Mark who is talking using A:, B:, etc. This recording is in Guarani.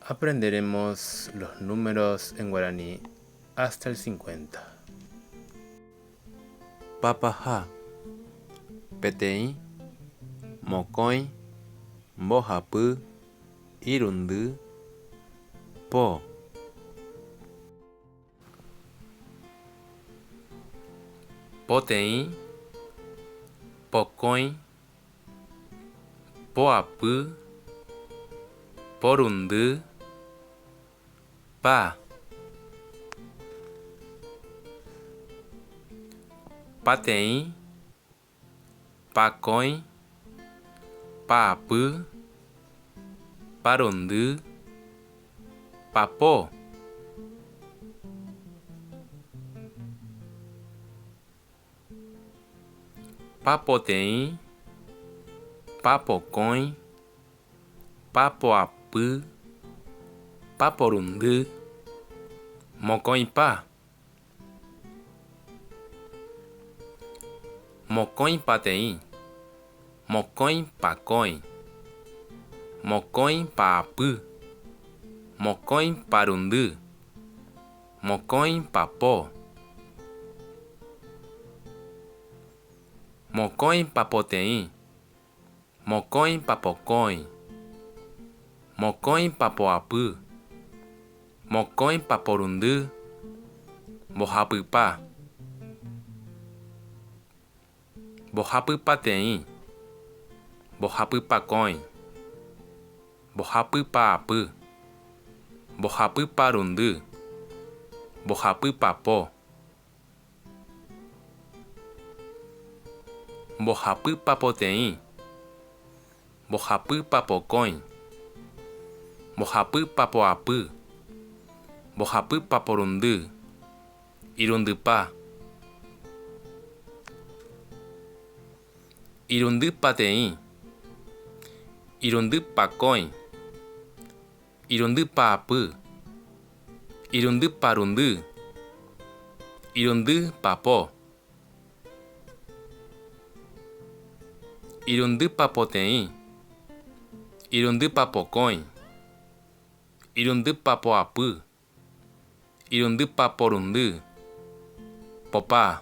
A: Aprenderemos los números en guaraní hasta el cincuenta. Papaha, peteĩ, mokõi, mbohapy, irundy, po. Poteĩ, pokõi. poapy, porundy, pa, pateĩ, pakõi, paapy, parundy, papo, Papoteĩ, papokõi, papoapy, paporundy, mokõipa, mokõipateĩ, mokõipakõi, mokõipaapy, mokõiparundy. Mokõi papo. Mokõi papoteĩ. Mokõi papokõi. Mokõi papoapy. Mokõi paporundy. Mbohapypa. Mbohapy pateĩ. Mbohapy pakõi. Mbohapy paapy. Mbohapy parundy. Mbohapy papo. Mbohapy papoteĩ. Mbohapy papokõi. Mbohapy papoapy. Mbohapy paporundy. Irundypa. Irundy pateĩ. Irundy pakõi. Irundy paapy. Irundy parundy. Irundy papo. Irundy papoteĩ. Irundy papokõi. Irundy papoapy. Irundy pa porundy. Popa.